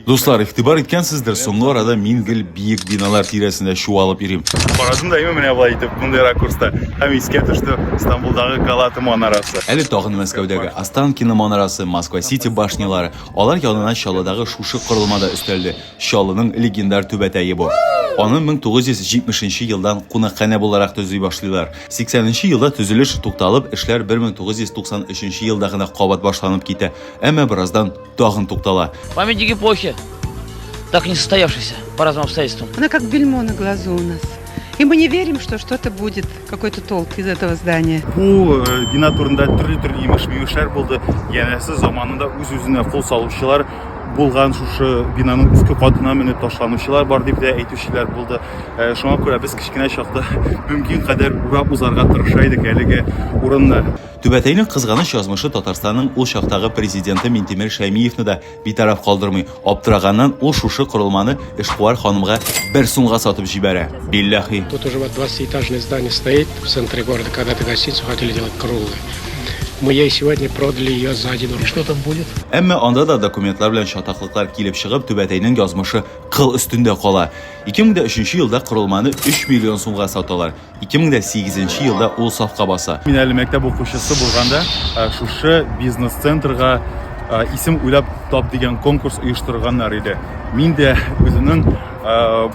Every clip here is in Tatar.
Дуслар, игътибар иткәнсездер, соңгы арада мин гел биек биналар тирәсендә чуалып йөрим. Карадым да менә болай итеп, мондый ракурста. Һәм искә төште Стамбулдагы Галата манарасы. Әле тагын Мәскәүдәге Останкино манарасы, Москва-Сити башнялары. Алар янына Чаллыдагы шушы корылма да өстәлде. Чаллының легендар түбәтәе бу. Аны 1970 нче елдан кунакханә буларак төзи башлыйлар. 80 нче елда төзелеш тукталып, эшләр 1993 елда гына кабат башланып китә. Әмма бераздан. Тагын туктала. Памятник эпохи. Так не состоявшийся по разным обстоятельствам. Она как бельмо на глазу у нас. И мы не верим, что что-то будет, какой-то толк из этого здания. Бу э, бина турында төрле-төрле имеш-мимешләр булды. Янәсе заманында үз-үзенә кул салучылар булган шушы бинаның өске катына менеп ташланучылар бар дип тә әйтүчеләр булды э, шуңа күрә без кечкенә чакта мөмкин кадәр урап узарга тырыша идек әлеге урынны Түбәтәйнең кызганыч язмышы Татарстанның ул чактагы президенты Минтимер Шәймиевны да битараф калдырмый. Аптыраганнан, ул шушы корылманы эшкуар ханымга бер сумга сатып җибәрә. Билләхи! Тут уже вот двадцатиэтажное здание стоит в центре города, когда-то гостиницу хотели делать круглой. Мы ей сегодня продали ее за один рубль. Что там будет? Әмма анда да документлар белән чатаклыклар килеп чыгып, Түбәтәйнең язмышы кыл өстендә кала. Ике мең дә өченче елда корылманы өч миллион сумга саталар. 2008 елда ул сафка баса. Мин әле мәктәп укучысы булганда шушы бизнес-центрга исем уйлап тап дигән конкурс оештырганнар иде. Мин дә үземнең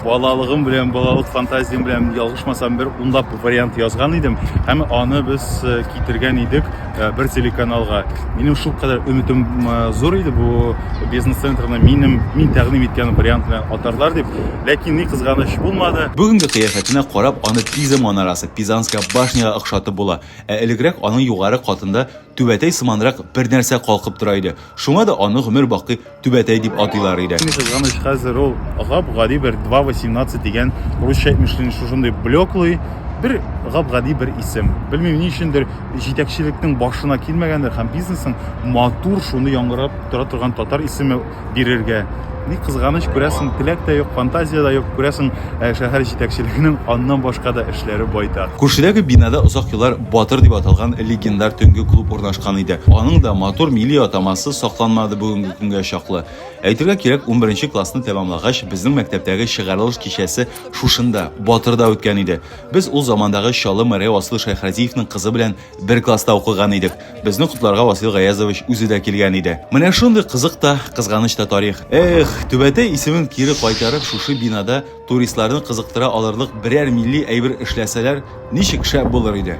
балалыгым белән, балалык фантазиям белән ялгышмасам бер унлап вариант язган идем һәм аны без китергән идек э, бер телеканалга минем шул кадәр өметем э, зур иде бу бизнес центрны минем мин тәкъдим иткән вариант белән атарлар дип ләкин ни кызганыч булмады бүгенге кыяфәтенә карап аны пиза манарасы пизанская башняга охшатып була ә элегрәк аның югары катында түбәтәй сыманрак бер нәрсә калкып тора иде Шуңа да аны гомер бакый Түбәтәй дип атыйлар иде. Ни кызганыч, хәзер ул гап-гади бер 2.18 дигән русча әйтмешли шушындый блеклый, бер гап-гади бер исем. Белмим, ни өчендер җитәкчелекнең башына килмәгәндер һәм бизнесның матур шуны яңгырап тора торган татар исеме бирергә Ни кызганыч, күрәсең, теләк тә юк, фантазия дә юк, күрәсең, ә шәһәр җитәкчелегенең аннан башка да эшләре байтак. Күршедәге бинада озак еллар Батыр дип аталган легендар төнге клуб урнашкан иде. Аның да матур милли атамасы сакланмады бүгенге көнгә чаклы. Әйтергә кирәк, унберенче классны тәмамлагач, безнең мәктәптәге чыгарылыш кичәсе шушында, Батырда үткән иде. Без ул замандагы Чаллы мэры Асыл Шәйхразиевның кызы белән бер класста укыган идек. Безне котларга Васил Гаязович үзе дә килгән иде. Менә шундый кызык та, кызганыч та тарих. Эх, Түбәтәй исемен кире кайтарып, шушы бинада туристларны кызыктыра алырлык берәр милли әйбер эшләсәләр, ничек шәп булыр иде.